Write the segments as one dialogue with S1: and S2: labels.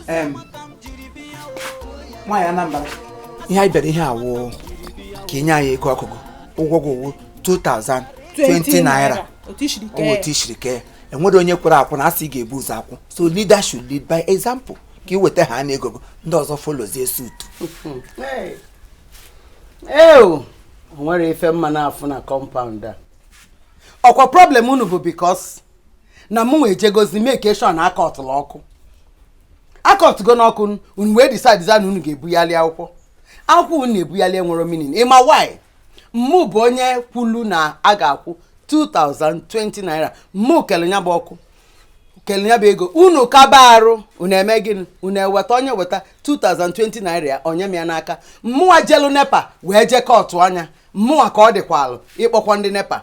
S1: Um, nwaanyị Anambra ihe anyị bịara ihe a wụ ka i nye anyị ego ọkụ gị ụgwọ gị ụgwọ 2020 naira otu i siri kee ọnwa a. otu i siri kee enwere onye kwere akwụ na-asị ị ga-ebu ụzọ akwụ so leader should lead by example ka i weta ha na ego gị, ndị ọzọ followzie suit
S2: ee o nwere ife m ma na-afụ na compound a ọkwa problem unu bụ because na mụnwa ejegozi make sure na akọtụla ọkụ akọtụgo n'ọkụ unu wee decide za na unu ga-ebughali akwụkwọ akwụkwọ unu na-ebughali enwero meaning ị ma why mụ bụ onye kwulu na a ga-akwụ 2020 naira mụ kelu nya bụ ọkụ kelu nya bụ ego unu kaba arụ unu eme gịnị unu eweta onye weta 2020 naira ya o nye m ya n'aka mmụwa jelu NEPA wee je kọtụ anya mmụwa ka ọ dịkwalụ ịkpọkwa ndị NEPA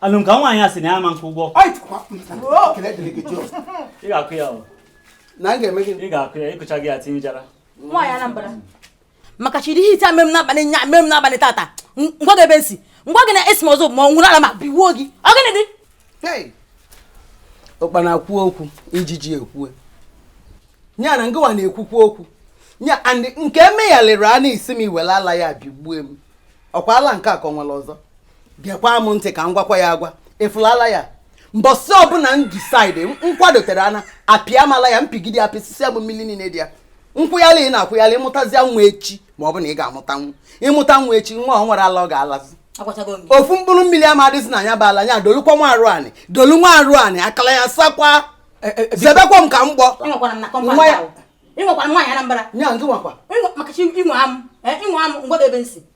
S2: Alụ
S3: m ka nwaanyị a sị na ya ama akwụ ụgwọ. Ị ga-akwụ ya o. Na m
S2: ga-eme gị. Ị ga-akwụ ya ị kwụcha gị
S3: ya tinye jara. Nwaanyị Anambra.
S4: Maka chiri ihe ite mere m n'abalị nya mere m n'abalị tata. Ngwa gị ebe nsi. Ngwa gị na esi m ọzọ m were ala m biwuo gị. Ọ gịnị
S2: dị? Ụkpana kwuo okwu ijiji ekwue. Nya na ngịwa na-ekwukwu okwu. Nya and nke emeghalịrị a na-esi m iwere ala ya bigbue m. Ọkwa ala nke a ka o nwere ọzọ. gekwa m ntị ka m gwakwa ya agwa ị fụla ala ya mbọsị ọbụla m decide nkwadotere ana apịa m ala ya m pigide apịsịsị ya bụ mmiri niile dị ya nkwụghalị ị na-akwụghalị ị mụtazia nwa echi ma ọ bụ na ị ga-amụta nwa ị mụta nwa echi nwa o nwero ala ọ ga-alazi ofu mkpụrụ mmiri ama adịzi na ya bụ ala ya dolukwa nwa arụ anị dolu nwa arụ anị akala ya sakwa eh, eh, eh, zebekwa m ka m gbọ nwa
S4: ya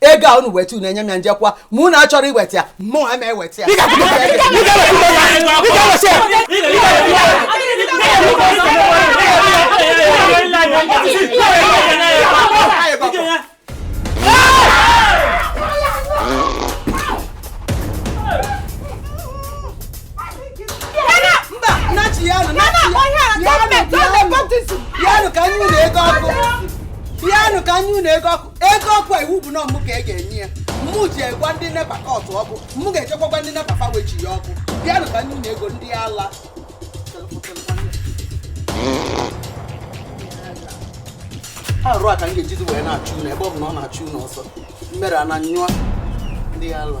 S2: ego a unu weta unu enye m ya m jekwa ma unu achọrọ iweta ya mụ ama eweta ya Bịanụ ka anyị na-ego ọkụ. Bịanụ ka anyị na-ego ọkụ. ego ọkụ iwu bụ na ọ mụ ka e ga-enye ya mụ jee gwa ndị NEPA kọtụ ọkụ mụ ga-echekwakwa ndị NEPA fa wechi ya ọkụ bịanụ ka ndị ego ndị ala arụ a ka m ga-ejizi wee na-achụ unu ebe ọ bụ na ọ na-achụ unu ọsọ m mere a na nyụọ ndị ala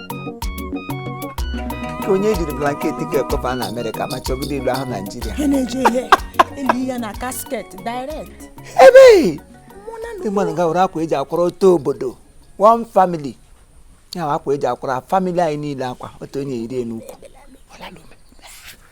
S1: ka onye ejiri blanket ka ekpoba na America ma chọgide ilu ahụ Nigeria ha na-eji ihe
S4: eli ya na casket direct ebe
S1: ndị mmadụ ga-ewere akwa eji akwara otu obodo one family ya akwa eji akwara family anyị niile akwa otu onye yiri n'ukwu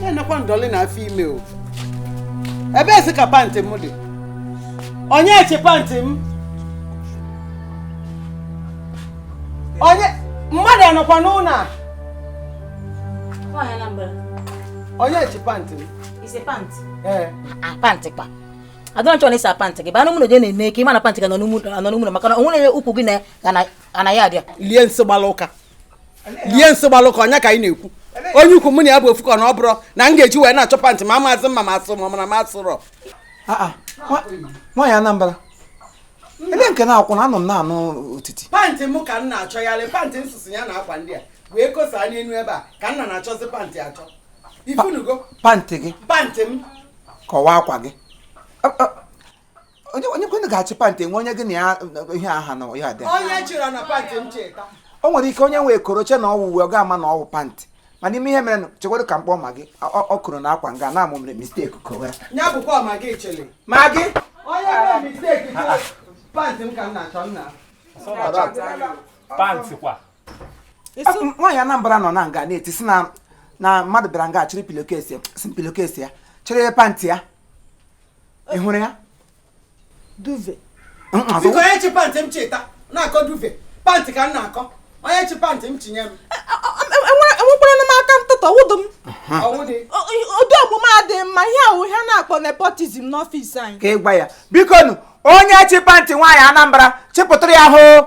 S2: na-enekwa ndọlị na afọ ime o ebezi ka pantị m dị onye chi pantị m onye mmadụ anọkwa n'ụnọ a Nwaanyị
S4: Anambra, onye
S2: chi pantị m ị sị pant.
S4: ee Ah, pant
S2: kwa.
S4: adọrọ chọrọ ịsa pantị gị banụ mụrụ je na-eme ka ị ma na pantị gị nọ n'ụmụrụ maka na o nwere ukwu gị na ya abịa lie nsị gbalụ ụka
S2: lie nsị gbalụ ụka onye ka ị na-ekwu onye ukwu mụ na ya bụ ofu ka na ọ bụrụ na m ga-eji wee na-achọ pantị ma amaazị m ma m asụ ma na m
S1: asụrọ nwaanyị Anambra ebe nke na-akwụ na anọ m na-anụ otiti pantị m ka m
S2: na-achọgharị pantị m sụsị ya na akwa ndị a wee kosa n'elu ebe a ka m na-achọzi pantị achọ ị fụnugo pantị
S1: gị pantị
S2: m kọwaa
S1: akwa gị onye onye kwanụ ga-achị pantị nwe onye gị na ya ihe aha na ya dị onye chịrị na pantị m cheta
S2: o nwere ike onye
S1: wekọrọ chee na ọ wụ uwe ọ ga-ama na ọ wụ pantị mana ị ma ihe merenụ chewodu ka m kpọọ Magi ọ kọrọ na akwa nga na-amụ mere mistake kowara ya bụkwa Magi
S2: chịrị Magi
S1: onye mere mistake
S2: pantị m ka m na-achọ nna
S3: pantị kwa
S1: nwaanyị Anambra nọ na nga na-eti sị na mmadụ bịara nga chịrị pillowcase sị pillowcase ya chịrị pantị ya ị hụrụ ya
S5: duvet
S2: biko onye chi pantị m cheta na-akọ duvet pantị ka m na-akọ onye chi pantị
S5: m chinye m enwekwara m aka ntụtọ wụdụ
S2: m ụdị omume
S5: adịghị mma ihe a wụ ihe a na-akpọ nepotism n'office anyị ka ị gwa ya
S1: bikonụ onye chi pantị nwaanyị Anambra chịpụtara ya hoo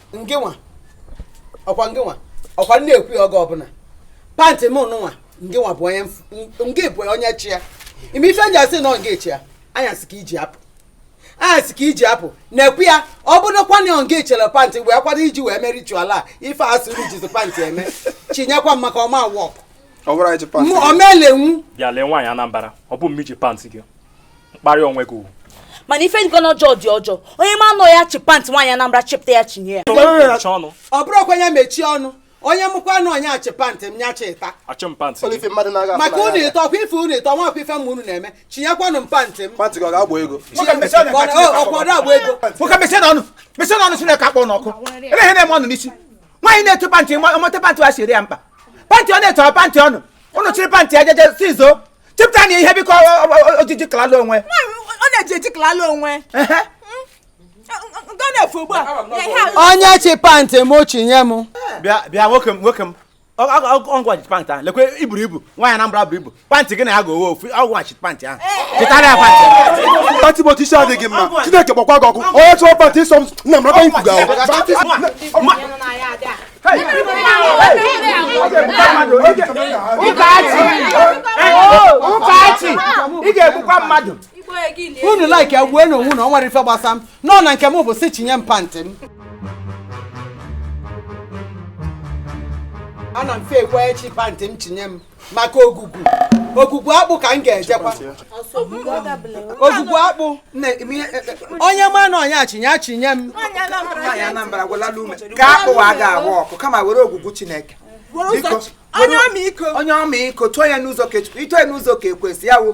S2: ngịnwa ọkwa ngịnwa ọkwa m na-ekwu ya oge ọbụla pantị m mụnwa ngịnwa bụ onye ngị bụ onye chi ya ị ma ife m ji asị na ọ ngị chi ya anyasị ka i ji apụ anyasị ka i ji apụ na-ekwu ya ọ bụrụkwa na ọ ngị chịrị pantị wee kwado iji wee mee ritual a ife a sị unu jizi pantị eme chinyekwa m maka ọ ma work ọ ma elenwu bịa lee nwaanyị Anambra
S3: ọ bụ mụ ji pantị gị mkparị onwe gị ugwu mana ife
S4: dịkwanụ ọjọọ dị ọjọọ onye ma na ọ ya chi pant nwaanyị Anambra chịpụta ya chinye ya ọ
S3: bụrụkwa ya
S2: mechie ọnụ onye makwanụ onye chị pantị m nya chịta
S3: maka unu
S2: ịtọ ọkwa ife unu ịtọ nwa ọkwa ife m ma unu na-eme chinyekwanụ m pantị m ọkwado agba ego nwoke mechie
S1: ọnụ mechie ọnụ Chineke kpọọ unu ọkụ ebe ihe na-eme unu n'isi nwaanyị na-eto pantị ọmọte pantị wa siri ya mkpa pantị ọ na-eto pantị ọnụ unu chịrị pantị ya jeje si zoo chepụta na ihe biko
S5: ojiji kalala
S1: onwe
S5: ọ
S1: na-eji
S5: eji kalala onwe
S2: onye chị pantị m chịnye m bịa nwoke m
S6: nwoke m ọ gị wa ji pantị ahụ lekwe i buru ibu nwaanyị Anambra buru ibu pantị gị na ya ga-owe ofu ọ gị wa ji pantị ahụ chịtara ya pantị pantị bụ ọchịchị
S7: adịghị mma Chineke gbakwa gị ọkụ onye chọrọ pantị ịsọ m nna m rọba ikwuga
S6: ụkachi ị ga-egbukwa mmadụ unu
S2: like ya gbuonụ onwe unu ọ nwere ife gbasa m nọ na nke m bụ sị chịnye m pantị m ana m fe ekwe onye chị pantị m chịnye m maka Ogwugwu Ogwugwu Akpụ ka m ga-ejekwa Ogwugwu Akpụ onye ma na onye chịnye chịnye m
S1: ka akpụ a ga-agba ọkụ kama were Ogwugwu Chineke onye ọmịiko too ya n'ụzọ kechukwu ito ya n'ụzọ ka e kwesị ya wụ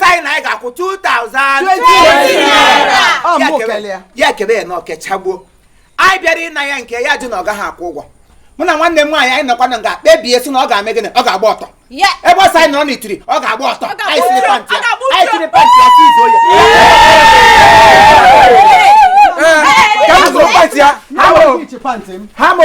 S1: sị na anyị ga-akwụ 2000 ya kebe ya na o kechaa gbuo anyị bịara ịna ya nke ya jụ na ọ gaghị akwụ ụgwọ mụ na nwanne m nwaanyị anyị nọkwa na nga kpebie si na ọ ga-eme gịnị ọ ga-agba ọtọ ebe ọ sị anyị nọrọ n'itiri ọ ga-agba ọtọ anyị chịrị pantị ya si izu ohi ka m zuru pantị ya ha mo ha mo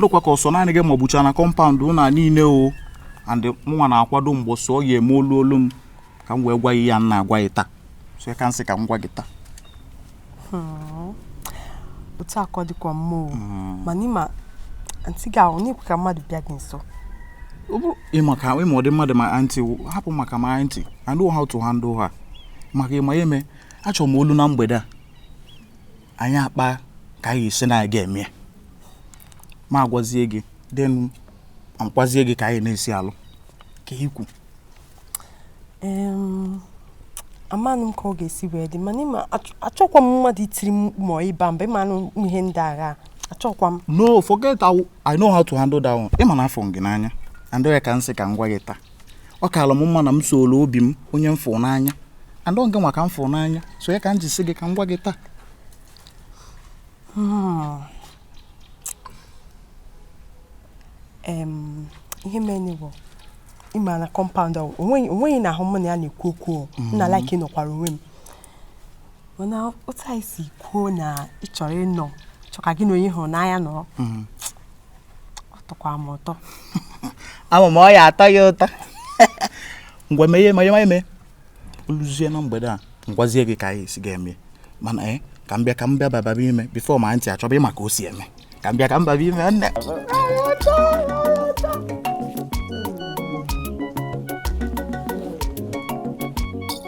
S8: lụkwa ka ọ sọ naanị gị ma ọ bụcha na compound ụna niile o and mụnwa na-akwado mgbe ọsọ ọ ya-eme olu olu m ka m wee gwa ya nna agwa ya taa so ya ka m sị ka m gwa gị taa
S9: hmm. otu akọ dịkwa mma o hmm. mana ị ma aunty gị ahụ anaghị ekwe ka mmadụ bịa gị nso
S8: maka ị ma ụdị mmadụ my aunty hapụ maka my aunty I know how to handle her maka ị ma ya eme achọrọ m olu na mgbede a anyị akpaa ka anyị esi na a ga-eme m agwazie gị then m akọwazie gị ka anyị na-esi alụ ka ikwu
S9: amanụ m ka ọ ga-esi wee dị mana ị ma achọkwa m mmadụ itiri m mkpu ma ịba mba ị manụ ihe ndị ahụ achọkwa m no forget
S8: I know how to handle that one ị ma na afụ m gị n'anya and ya ka m sị ka m gwa gị taa ọ kaala m mma na m sooro obi m onye m fụrụ n'anya and ọ gịnwa ka m fụrụ n'anya so ya ka m ji sị gị ka m gwa gị taa hmm.
S9: ihe mere bụ ị ma na compound ahụ o nweghị onye ahụ m na ya na-ekwu okwu m na hmm. like nọkwara onwe m mana otu anyị si kwuo na ị chọrọ ịnọ chọ ka gị na onye ị hụrụ n'anya nọrọ hmm. ọ tọkwa m ụtọ
S8: ama m ọ ya atọ ya ụtọ ngwa mee ihe ma ihe ma eme o luzie na mgbede a m gwazie gị ka anyị esi ga-eme mana ee eh, ka m bịa ka m bịa baba ime before my auntie achọba ịma ka o si eme ka m bịa ka m baba ime nne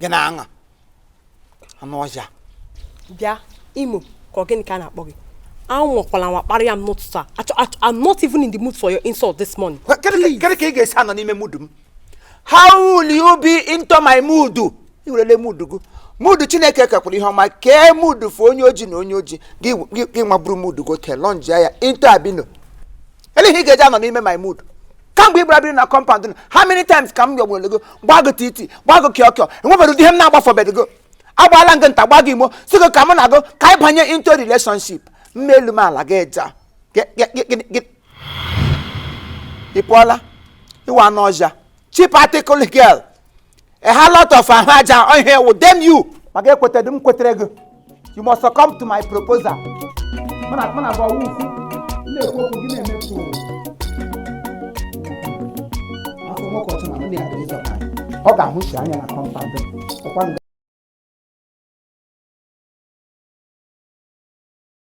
S1: gị na-aṅa anụ ọhịa
S9: bịa Imo ka ọ gịnị ka a na-akpọ gị anwakwala anwa kparịa m n'ụtụtụ a Achọ- achọ- I'm not even in the mood for your insult this morning Wa- kedu ka- kedu ka ị ga-esi
S1: anọ n'ime mood m how will you be into my mood i werele mood gị mood chineke kekwara ihe ọma kee mood for onye oji na onye oji gị gị- gị nwa buru mood gị ote lọnjia ya into albino ele ihe ị ga-eji anọ n'ime my mood kamgbe ị gbara biri na compound a how many times ka m yọgburu go gbaa gị titi gbaa gị kịọkịọ e nwebere ụdị ihe m na-agbafọbeghị go agbaala m gị nta gbaa gị imo sị gị ka mụ na gị ka anyị banye into relationship m mee elu mee ala gị eja ị pụọla ị wụ anụ ọhịa cheap article girl a whole lot of ahụ aja ọ ihe wụ dem you ma gị ekwetedị m kwetere gị you must succumb to my proposal mana mana gwa wu isi na-ekwu okwu gị na-eme tụụ afọ nwoke ọchụ na ndị ya dị ịzọ ọ ga-ahụsi anya na compound ọkwa nga